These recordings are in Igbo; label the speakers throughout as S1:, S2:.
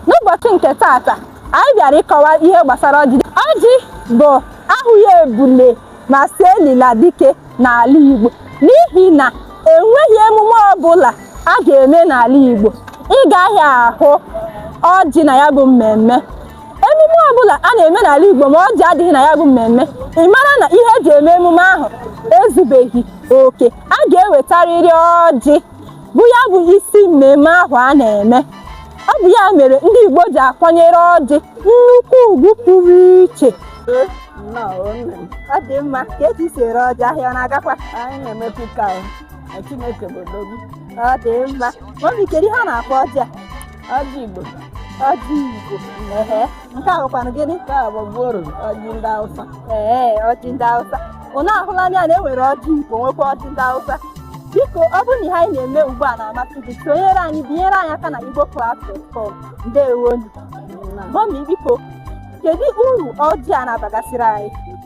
S1: N'ụbọchị nke tata, anyị bịara ịkọwa ihe gbasara ọjị. Ọjị bụ ahụghị ebule ma sị elila dike n'ala Igbo n'ihi na enweghị emume ọbụla a ga-eme n'ala Igbo ị gaghị ahụ ọjị na ya bụ mmemme. Emume ọbụla a na-eme n'ala Igbo ma ọjị adịghị na ya bụ mmemme, ị mara na ihe e ji eme emume ahụ ezubeghị oke. A ga-ewetarịrị ọjị bụ ya bụ isi mmemme ahụ a na-eme. ọ bụ ya mere ndị Igbo ji akwanyere ọjị nnukwu ugwu pụrụ iche ọ dị mma ka eji si ere ọjị ahịa ọ na-agakwa anyị
S2: na-emepe ka Chineke bụ odogwu ọ dị
S1: mma mọmi kedu ihe a na-akpọ ọjị a ọjị Igbo
S2: ọjị
S1: Igbo nke a bụkwanụ gịnị nke a bụ
S2: gworo ọjị ndị awụsa ee ọjị
S1: ndị awụsa ụnụ ahụla anya na e nwere ọjị igbo nwekwa ọjị ndị awụsa biko ọ bụrụ na ihe anyị na-eme ugbu a na-amasị gị sonyere anyị binyere anyị aka na Igbo class form ndewonu mọmi biko kedu uru ọjị a na-abagasịrị anyị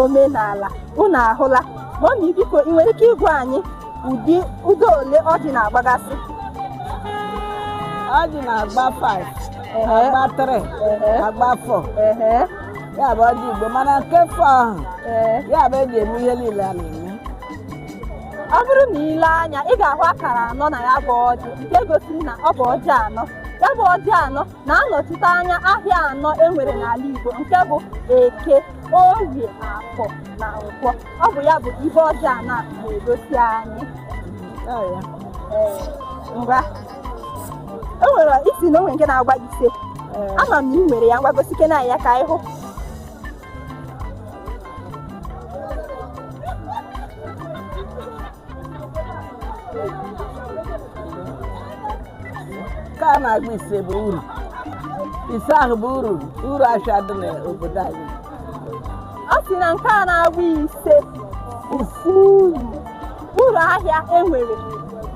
S1: omenala unu ahụla mọmi biko ị nwere ike ịgwa anyị ụdị ụzọ ole ọjị na-agbagasị
S2: ọjị na-agba 5 Ehe, agba 3 ehe, agba 4 ehe, ya bụ ọjị igbo mana nke 4 ahụ ee. ya bụ eji eme ihe niile a
S1: na-eme ọ bụrụ na ị lee anya ị ga-ahụ akara anọ na ya bụ ọjị nke gosiri na ọ bụ ọjị anọ ya bụ ọjị anọ na-anọchite anya ahịa anọ e nwere n'ala Igbo nke bụ Eke, Orie, Afọ na Nkwọ. Ọ bụ ya bụ ibe ọjị anọ na-egosi anyị. Ngwa o nwere ị sị na o nwere nke na-agba ise ama m na ị nwere ya ngwa gosikene anyị ya ka anyị hụ
S2: nke a na-agba ise bụ uru ise ahụ bụ uru uru ahịa dị n'obodo anyị ọ
S1: sị na nke a na-agba ise ọ bụ uru uru ahịa enwere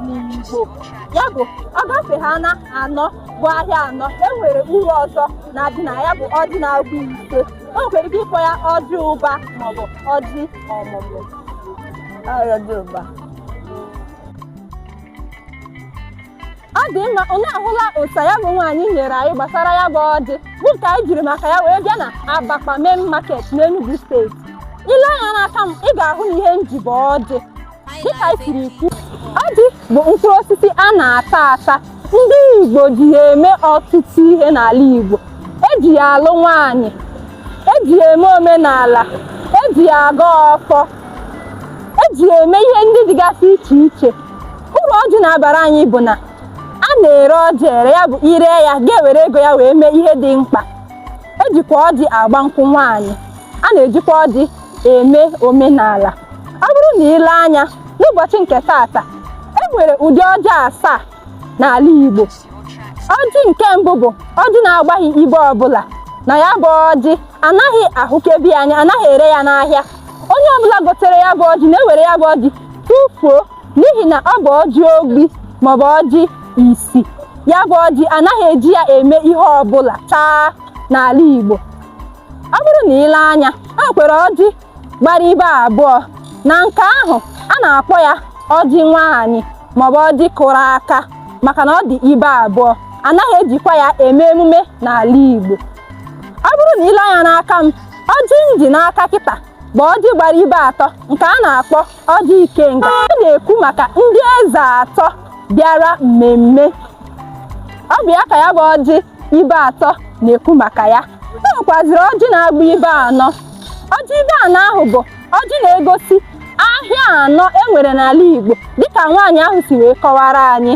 S1: n'Igbo ya bụ ọ gafe ha na anọ bụ ahịa anọ enwere uru ọzọ na-adị na ya bụ ọjị na-agba ise o nwere ike ịkpọ ya ọjị ụba maọbụ ọjị
S2: ọmụmụ ọjị
S1: ụba ọ dị mma unu ahụla ụsa ya bụ nwaanyị nyere anyị gbasara ya bụ ọjị bụ nke anyị jiri maka ya wee bịa na Abakpa main market n'Enugu steeti ị lee anya n'aka m ị ga-ahụ na ihe m ji bụ ọjị dịka anyị siri kwu ọjị bụ mkpụrụ osisi a na-ata ata ndị Igbo ji ya eme ọtụtụ ihe n'ala Igbo eji ya alụ nwaanyị eji ya eme omenala eji ya agọ ọfọ eji ya eme ihe ndị dịgasị iche iche uru ọjị na-abara anyị bụ na a na-ere ọjị ere ya bụ ire ya ga-ewere ego ya wee mee ihe dị mkpa ejikwa ọjị agba nkwụ nwaanyị a na-ejikwa ọjị eme omenala ọ bụrụ na ile anya n'ụbọchị nke taata e nwere ụdị ọjị asaa n'ala Igbo ọjị nke mbụ bụ ọjị na-agbaghị ibe ọbụla na ya bụ ọjị anaghị ahụkebe ya anya anaghị ere ya n'ahịa onye ọbụla gotere ya bụ ọjị na-ewere ya bụ ọjị tụfuo n'ihi na ọ bụ ọjị ogbi maọbụ ọjị isi ya bụ ọjị anaghị eji ya eme ihe ọbụla taa n'ala Igbo ọ bụrụ na ile anya o nwekwara ọjị gbara ibe abụọ na nke ahụ a na-akpọ ya ọjị nwaanyị maọbụ ọjị kụrụ aka maka na ọ dị ibe abụọ anaghị ejikwa ya eme emume n'ala Igbo ọ bụrụ na ile anya n'aka m ọjị m ji n'aka kịta bụ ọjị gbara ibe atọ nke a na-akpọ ọjị ikenga a na-ekwu maka ndị eze atọ bịara mmemme ọ bụ ya ka ya bụ ọjị ibe atọ na-ekwu maka ya e nwekwaziri ọjị na-agba ibe anọ ọjị ibe anọ ahụ bụ ọjị na-egosi ahịa anọ e nwere n'ala Igbo dịka nwaanyị ahụ si wee kọwara anyị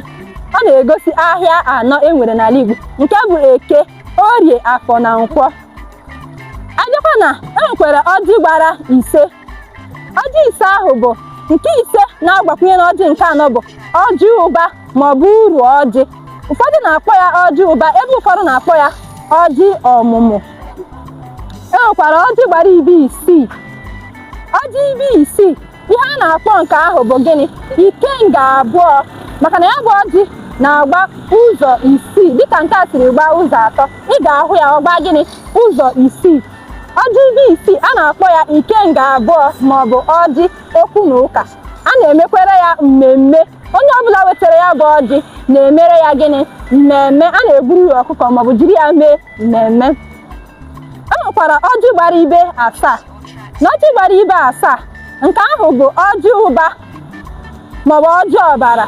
S1: ọ na-egosi ahịa anọ e nwere n'ala Igbo nke bụ eke orie afọ na nkwọ ọzọkwa na e nwekwara ọjị gbara ise ọjị ise ahụ bụ nke ise na-agbakwunye n'ọjị nke anọ bụ ọjị ụba maọbụ uru ọjị ụfọdụ na-akpọ ya ọjị ụba ebe ụfọdụ na-akpọ ya ọjị ọmụmụ e nwekwara ọjị gbara ibe isii ọjị ibe isii ihe a na-akpọ nke ahụ bụ gịnị ikenga abụọ maka na ya bụ ọjị na-agba ụzọ isii dịka nke a siri gbaa ụzọ atọ ị ga-ahụ ya ọ gbaa gịnị ụzọ isii ọjị ibe isii a na-akpọ ya ikenga abụọ maọbụ ọjị okwu na ụka a na-emekwere ya mmemme onye ọbụla wetara ya bụ ọjị na-emere ya gịnị mmemme a na-egburu ya ọkụkọ maọbụ jiri ya mee mmemme e nwekwara ọjị gbara ibe asaa na ọjị gbara ibe asaa nke ahụ bụ ọjị ụba maọbụ ọjị ọbara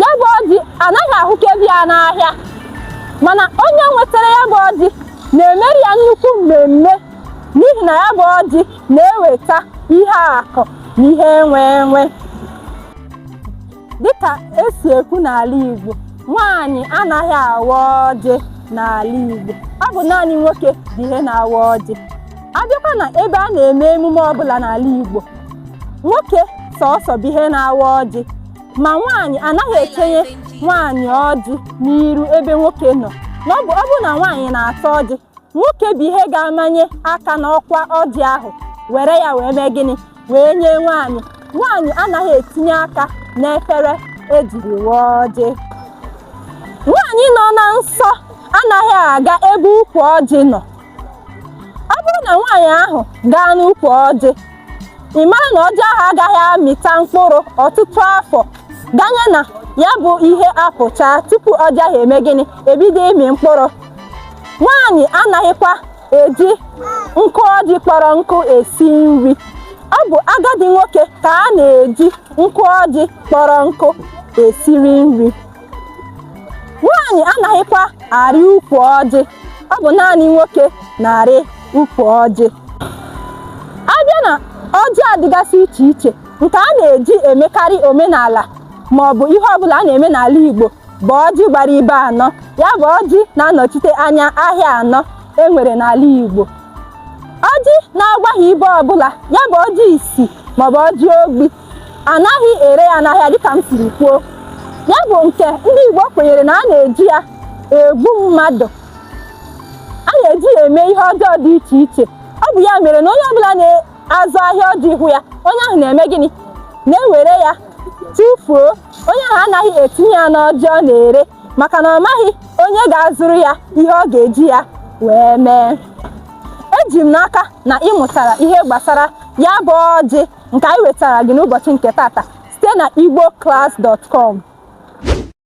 S1: ya bụ ọjị anaghị ahụkebe ya n'ahịa mana onye nwetara ya bụ ọjị na-emere ya nnukwu mmemme n'ihi na ya bụ ọjị na-eweta ihe akụ na ihe enwe enwe dịka esi ekwu n'ala Igbo nwaanyị anaghị awa ọjị n'ala Igbo ọ bụ naanị nwoke bụ ihe na-awa ọjị abịakwa na ebe a na-eme emume ọbụla n'ala Igbo nwoke sọsọ bụ ihe na-awa ọjị ma nwaanyị anaghị ekenye nwaanyị ọjị n'iru ebe nwoke nọ ọ bụ na nwaanyị na-ata ọjị nwoke bụ ihe ga-amanye aka n'ọkwa ọjị ahụ were ya wee mee gịnị wee nye nwaanyị nwaanyị anaghị etinye aka n'efere ejiri waa ọjị nwaanyị nọ na nsọ anaghị aga ebe ukwu ọjị nọ ọ bụrụ na nwaanyị ahụ gaa n'ukwu ọjị ị mara na ọjị ahụ agaghị amịta mkpụrụ ọtụtụ afọ ganye na ya bụ ihe apụchaa tupu ọjị ahụ eme gịnị ebido ịmị mkpụrụ nwaanyị anaghịkwa eji nkụ ọjị kpọrọ nkụ esi nri ọ bụ agadi nwoke ka a na-eji nkụ ọjị kpọrọ nkụ esiri nri nwaanyị anaghịkwa arị ukwu ọjị ọ bụ naanị nwoke na-arị ukwu ọjị abịa na ọjị adịgasị iche iche nke a na-eji emekarị omenala ma ọ bụ ihe ọbụla a na-eme n'ala Igbo bụ ọjị gbara ibe anọ ya bụ ọjị na-anọchite anya ahịa anọ e nwere n'ala Igbo ọjị na-agbaghị ibe ọbụla ya bụ ọjị isi maọbụ ọjị ogbi anaghị ere ya n'ahịa dịka m siri kwuo ya bụ nke ndị Igbo kwenyere na a na-eji ya egbu mmadụ a na-eji ya eme ihe ọjọọ dị iche iche ọ bụ ya mere na onye ọbụla na-azụ ahịa ọjị hụ ya onye ahụ na-eme gịnị na-ewere ya tụfuo onye ahụ anaghị etinye ya n'ọjị ọ na-ere maka na ọ maghị onye ga-azụrụ ya ihe ọ ga-eji ya wee mee eji m n'aka na ị mụtara ihe gbasara ya bụ ọjị nke anyị wetara gị n'ụbọchị nke tata site na igboclass.com